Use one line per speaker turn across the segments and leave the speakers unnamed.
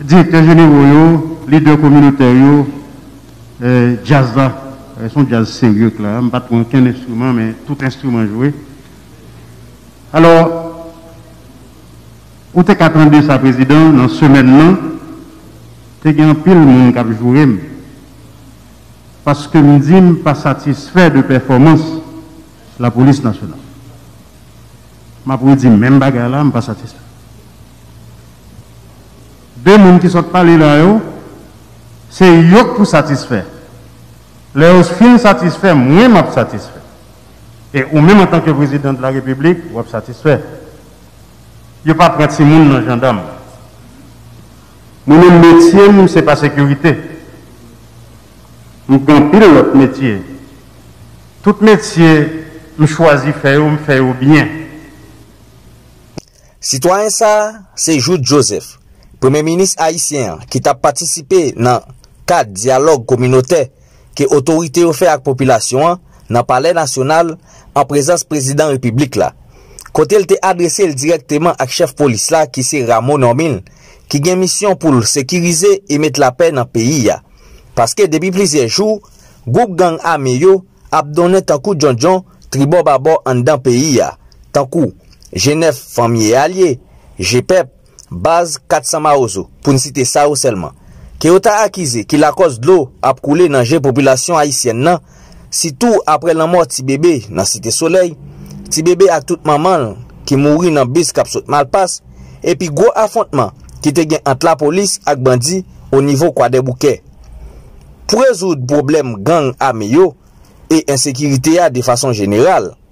Direktè jenewo yo, lidè kominotè yo, djaz la, se yon djaz serye k la, m pa t pran okenn enstriman men tout enstriman jwe. Alò, ou te ka tande sa Prezidan, nan semèn nan, te gen anpil moun k ap joure m. paske m di m pa satisfè de pèfòmans Lapolis Nasyonal. M ap redi menm bagay la, m pa satisfè. De moun ki sot pale la yo, se yo k pou satisfè. Lè yo fin satisfè, mwen m ap satisfè. E ou menm antanke Prezidan de la Repiblik, w ap satisfè. Yo pa pran timoun nan jandam. Mwen menm metye m se pa sekirite. M gen anpil lòt metye. Tout metye m chwazi fè yo m fè yo byen.
Sitwayen sa a se Jouthe Joseph, premye minis ayisyen an ki t ap patisipe nan kad dyalòg kominotè ke otorite yo fè ak popilasyon an nan Palè Nasyonal an prezans Prezidan Repiblik la, kote l te adrese l dirèkteman ak chèf polis la ki se Rameau Normil ki gen misyon pou l sekirize e met lapè nan peyi a, paske depi plizyè jou gwoup gang ame yo ap donnen tankou djondjon tribò babò anndan peyi a, tankou G9 Fanmi e Alye, G-Pep. baz 400 mawozo, pou n site sa yo sèlman, ke yo ta akize ki lakòz dlo ap koule nan je popilasyon ayisyèn nan, sitou apre lanmò ti bebe nan Site Solèy, ti bebe ak tout manman l ki mouri nan bis k ap sot Malpas, epi gwo afwontman ki te gen ant lapolis ak bandi onivo Kwadèboukè. Pou rezoud pwoblèm gang ame yo e ensekirite a defason jeneral,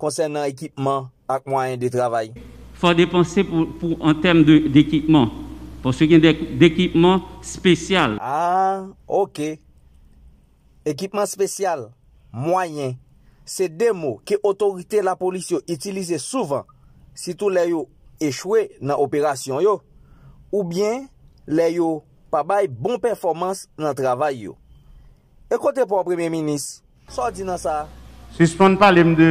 konsènan ekipman ak mwayen de travay. Fò depanse
pou an tèm dekipman, paske gen de dekipman spesyal. A,
ok. Ekipman spesyal, mwayen, se de mo ke otorite lapolis yo itilize souvan, sitou lè yo echwe nan operasyon yo, oubyen lè yo pa bay bon pèfòmans nan travay yo. E kote pa w Premye Minis Sa w di nan sa? Sispann pale m
de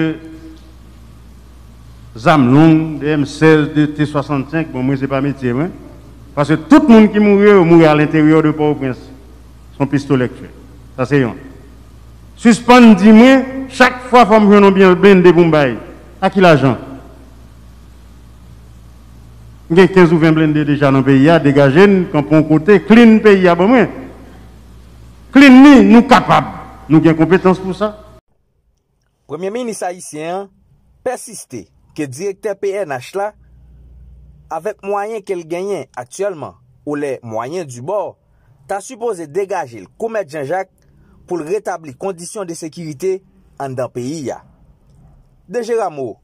zam long, de M 16, de T 65, bon mwen se pa metye mwen, paske tout moun ki mouri yo, yo mouri a lenteryè de Pòtoprens, se yon pistolè k fè sa se yon. Sispann di mwen chak fwa fò m jwenn yon byèl blende pou m bay, a ki lajan? M gen 15 ou 20 blende deja nan peyi a, degaje n kanpe yon kote, clean peyi a ban mwen. Clean li, nou kapab, nou gen konpetans pou sa.
Premye minis ayisyen an pèsiste ke direktè pnh la, avèk mwayen ke l genyen aktyèlman oulè mwayen di bò, ta sipoze degaje l kou mèt Jan Jak pou l retabli kondisyon de sekirite anndan peyi a. DG Rameau.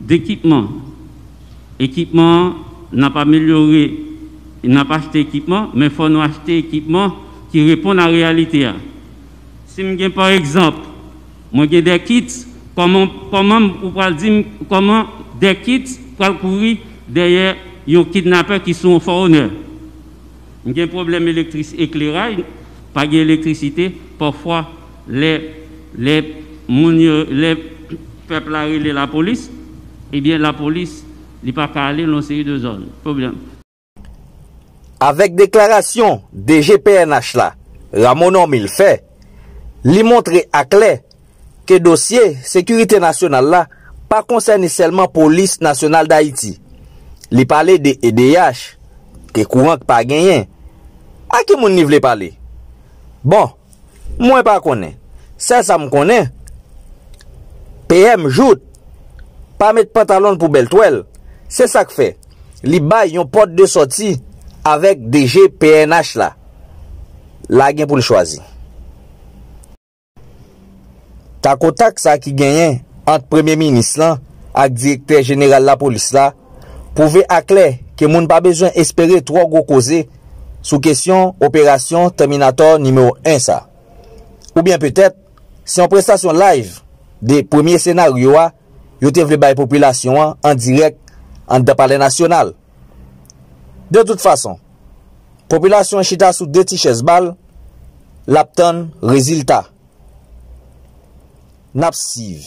Dekipman Ekipman an N ap amelyore N ap achte ekipman, men fò nou achte ekipman ki reponn a reyalite a. Si m gen pa egzanp, mwen gen 2 kits, kòman kòman m ou pral di m kòman 2 kits pral kouri dèyè yon kidnapè ki sou yon fò onè? M gen pwoblèm elektris ekleray pa gen elektrisite pafwa lè lè moun yo lè pèp la rele lapolis ebyen lapolis li pa ka ale nan yon seri de zòn pwoblèm. Avèk
deklarasyon DG pnh la, Rameau Normil fè, li montre aklè ke dosye sekirite nasyonal la pa konsène sèlman Polis Nasyonal Dayiti. Li pale de edh, ke kouran k pa genyen. A ki moun li vle pale? Bon, mwen pa konnen. Sèl sa m konnen, PM Jouthe pa met pantalon l pou bèl twèl, se sa k fè li bay yon pòt de sòti avèk DG pnh la. La gen pou l chwazi. Takotak sa ki genyen ant premye minis lan ak direktè jeneral lapolis la pwouve aklè ke moun pa bezwen espere twò gwo koze sou kesyon operasyon Tèminatò nimewo 1 sa. Oubyen petèt, se yon prestasyon live de premye senaryo a yo te vle bay popilasyon an dirèk anndan palè nasyonal. De tout fason, popilasyon an chita sou 2 ti chèz bal, l ap tann rezilta. N ap siv.